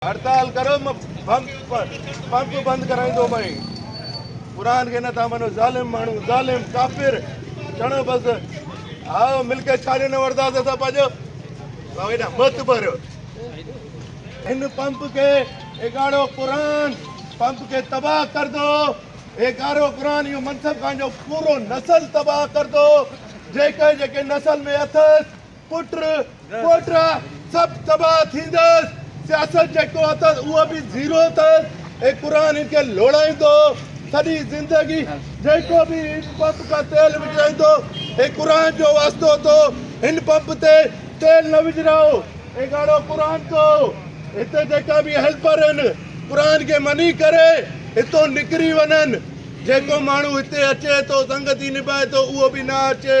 هڙتال ڪريو م پمپ پمپ بند ڪرائيندو مئي قرآن کي نٿا مڃو ظالم ماڻهو ظالم ڪافر چڻو بس ها ملڪيت ڇا ڏنو وردا سا پاجو ويدا مت پر ان پمپ کي اگاڙو قرآن پمپ کي تباہ ڪر دو اگارو قرآن يو منصب خان جو پورو نسل تباہ ڪر دو جيڪي جيڪي نسل ۾ اٿس پٽ پوٽ سڀ تباهه ٿيندس سياست جيڪو اٿس اهو به زيرو اٿس هي قرآن هن کي لوڙائيندو سڄي زندگي جيڪو به هن پمپ کان تيل وجهرائيندو هي قرآن جو واسطو اٿو هن پمپ تي تيل نه وجهرايو هي ڳاڙهو قرآن تو هتي جيڪا به هيلپر آهن قرآن کي مني ڪري هتو نڪري وڃن جيڪو ماڻهو هتي اچي ٿو سنگتي نڀائي ٿو اهو به نه اچي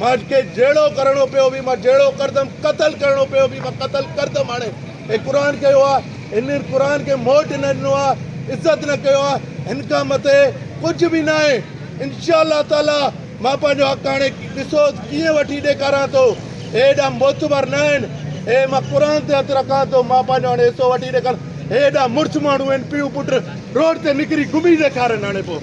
مان کي جهيڙو ڪرڻو پيو به مان جهيڙو ڪردم قتل ڪرڻو پيو به مان قتل ڪردم هاڻي هي قرآن ڪيو آ هن قرآن کي موٽ نه ڏنو آ عزت نه ڪيو آ هن کان مٿي ڪجهه به ناهي انشاء الله تعالي مان پنهنجو حق هاڻي ڏسو ڪيئن وٺي ڏيکاران ٿو هي ايڏا معتبر نه آهن هي مان قرآن تي هٿ رکان ٿو مان پنهنجو هاڻي حصو وٺي ڏيکاران هي ايڏا مڙس ماڻهو آهن پيو پٽ روڊ تي نڪري گهمي ڏيکارن هاڻي پوء